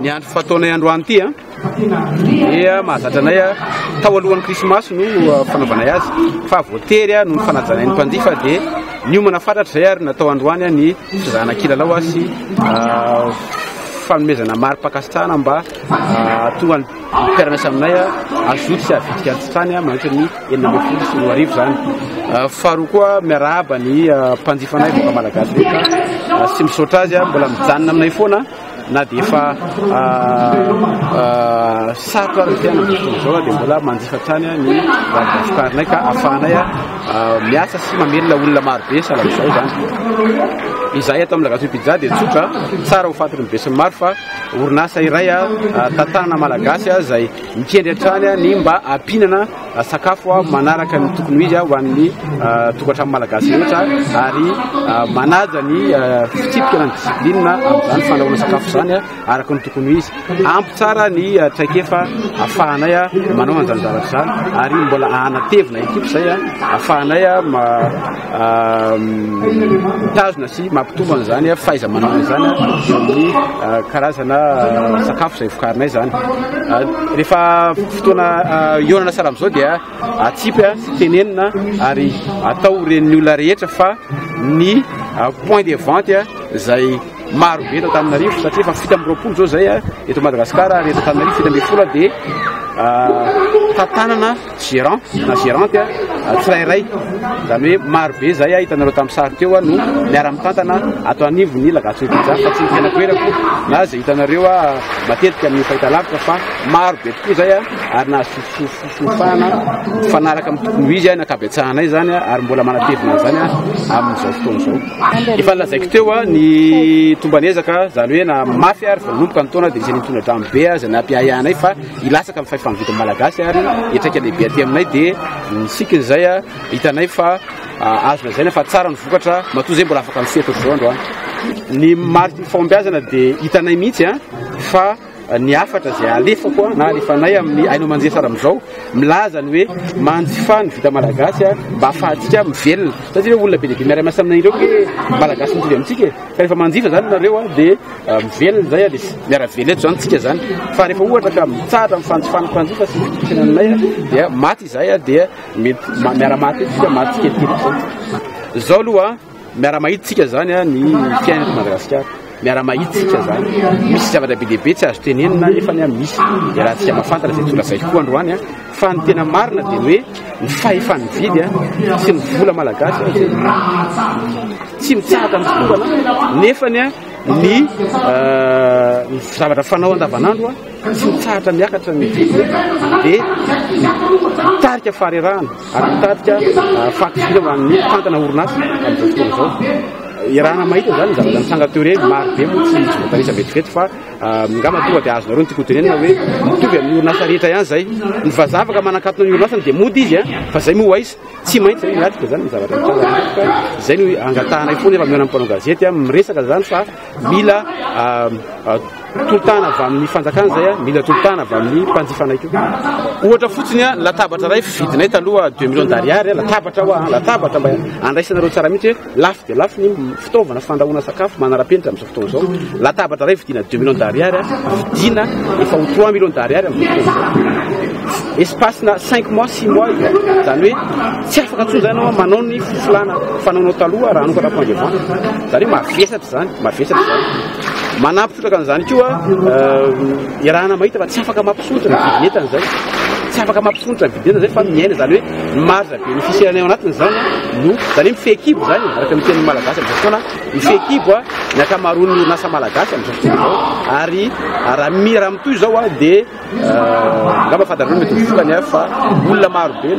Ny andro fataonay androany ity a dia mahazatra anay a tao alohan'ny krismasy no uh, fanaovanay azy fa voatery a noho ny fanajanay ny mpanjifa dia niomana fatratra izay ary natao androany a ny fizahana kilalao a sy uh, fanomezana mari-pakasitrahana mba uh, tonga Ny fiaranaisa aminay azo zoto sy avitrika an-tsotrany mandritra ny enina ambin'ny folo sy roa arivo izany. Faharoa koa miarahaba ny mpanjifa anay vaovao malagasy rehetra sy misaotra azy mbola mijanona aminay foana na dia efa sarotra aza ny fiainana toy izao dia mbola manjifa hatrany ny vokarinay ka ahafahanay miasa sy mamelona olona marobe sahala amin'izao izany. Izahay ato amin'ny Lagazoy Pizza dia tsotra, tsara ho fantatry ny besinimaro fa. orinasa iray tantanana malagasy izay mikendry hatrany ny mba hampihinana sakafo manaraka ny tokony ho izy ho an'ny tokantrano malagasy rehetra ary manaja ny fitsipika na ny discipline amin'izany fandrahoana sakafo izany araka ny tokony ho izy. Ampy tsara ny traikefa afahanay manao an'izany zavatra izany ary mbola hanatevina ekipa izay afahanay mitazona sy mampitombo an'izany fahaiza-manao izany eo amin'ny karazana sakafo izay vokarinay izany. Rehefa fotoana hihaonana sahala amin'izao dia atsipy sy tenenina ary atao ho ren'ny olona rehetra fa ny point de vente izay maro be eto Antananarivo satria efa fito amby roapolo izao izay eto Madagasikara ary eto Antananarivo fito ambin'ny folo dia tantanana Gerant na gerante tsirairay, izany hoe maro be izay hitanareo tamin'ny sary teo no miara-mitantana ato anivon'ny La Gazzo Pizza fa tsy ny tena toerako na izay hitanareo matetika amin'ny fahitalavitra fa maro be tokoa izay ary nahazo fifahana mifanaraka amin'ny tokony ho izy na ankabetsahanay izany ary mbola manatevina an'izany amin'izao fotoana izao. Efa nilazaiko teo ny tomban'ezaka izany hoe na mafy ary vao nanomboka ny taona dia izay nitondra drano be izay nampiahiahy anay fa hilatsaka ny fahefa mividin'ny Malagasy ary hiatraika lehibe aty aminay dia ny sikiny izay hitanay fa azo lazaina fa tsara ny vokatra matoa izay mbola afaka misehatra ohatr'izao andro any. Ny mariky ny fahombiazana dia hitanay mihitsy fa ny hafatra izay alefako na alefanay amin'ny haino aman-jery sara amin'izao milaza ny hoe manjifa ny vita malagasy mba ahafahantsika mivelona satria hoe olona be dia be miara-miasa aminay ireo hoe malagasy mitovy amintsika e. Ka rehefa manjifa izany nareo dia Mivelona izay Alice. Miara-velona eto izany tsika izany. Fa rehefa ohatra ka mitsahatra amin'ny fanjifana mpanjifa sy ny fiainanay dia maty izahay dia mety miara-maty eto tsika maty tsikelikely izany. Izao aloha miara-mahita tsika izany ny fiainana eto Madagasikara. Miara-mahita tsika izany. Misy zavatra be dia be tsy azo tenenina nefa ny misy iarahantsika mahafantatra izay tonga zay koa androany. Fa ny tena marina dia ny hoe ny fahefa-mividy sy ny vola malagasy tsy mitsahatra ny fitaovana nefany ny zavatra fanao andavanandro tsy mitsahatra miakatra ny vidiny dia mitarika faharerahana ary mitarika ah, fahakiviana ho an'ny mpitantana orinasa amin'izao fotoana izao irahana mahita izany ny zavatra nitsanga teo ireny maro be moa tsy tsy voatanisa vetivety fa ah, ngamba tonga dia azonareo ny tikotenena hoe mitovy amin'ny orinasa rehetra ihany izay ny vazavaka manakatona ny orinasany dia mody izy a ah, fa izay moa ho aiza Tsy maintsy ry latika izany ny zavatra mitranga. Izay no angatahanay foana efa mihaona mpanao gazety amin'ny resaka izany fa mila tolotana avy amin'ny fanjakana izay mila tolotana avy amin'ny mpanjifanay koa. Ohatra fotsiny latabatra iray fidinay taloha 2 millions d'ariary latabatra hoa latabatra mba andraisanareo tsara mihitsy Lafo dia lafo ny fitaovana fandrahoana sakafo manara-penitra amin'izao fotoana izao. Latabatra iray vidiana deux millions d'ariary, vidiana efa ho trois millions d'ariary amin'izao fotoana. Espace-na cinq mois, six mois io. Izany hoe tsy afaka intsony izany ianao manao ny filana fanaonao taloha raha hanokatra point de vente. Izany hoe mavesatra izany, mavesatra izany. Manampy trotraka an'izany koa iarahana mahita fa tsy afaka mampisotra ny vidin'entana izay. Tsy afaka mampisotra ny vidin'entana izay fa miaina izany hoe ny marge Ny fisianay ao anatiny izany no, izany hoe ny fehikibo izany e, araka ny tenin'ny Malagasy amin'izao fotoana, ny fehikibo ny ankamaroan'ny orinasa malagasy amin'izao fotoana izao ary raha mira mitohy izao dia angamba fahadarana mety ho vokany fa olona marobe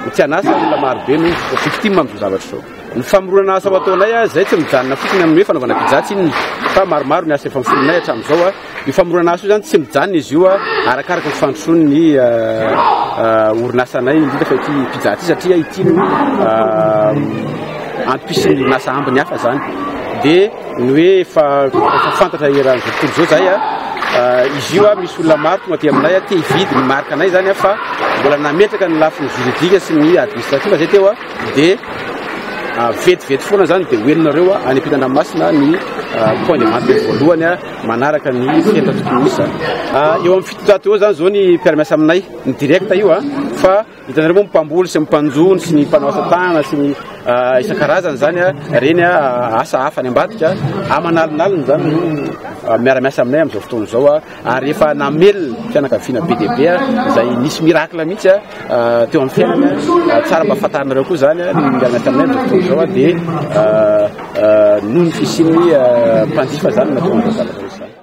no tsy an'asa, olona marobe no victime amin'izao zavatra izao. Ny famoronana asa ho ataonay izay tsy mijanona fotsiny amin'ny hoe fanaovana pizza tsinona fa maromaro ny asa efa miforonay hatramin'izao. Io famoronana asa io izany tsy mijanona izy io arakaraka ny fandrosoan'ny orinasanay indrindra fa ity pizza ity satria ity no antom-pisian'ny orinasa ambiny hafa izany. Dia ny hoe efa fantatra eran'izao tontolo izao izay izy io misy olona maro tonga aty aminay te hividy ny marika anay izany fa mbola nametraka ny lafiny juridique sy ny administratif izay teo. Dia vetivety foana izany dia ho henonareo any am-pitan-dranomasina ny point de vente voalohany manaraka ny fihenana tokony hisy izany. Eo amin'ny fitonjato eo izany izao ny mpiara-miasa aminay, ny direct io fa hitanareo moa ny mpamboly sy ny mpanjono sy ny mpanao asa tanana sy ny isan-karazany izany, ireny asa hafa any ambadika, aman'alinalina izany no miara-miasa aminay amin'izao fotoana izao. ary efa namelona fianakaviana be dia be izay nisy miracle mihitsy teo amin'ny fiainana tsara mba fantarinareo koa izany ny miarana taminay dokotera izao dia noho ny fisian'ny mpanjifa izany mahatonga an'izao zavatra izao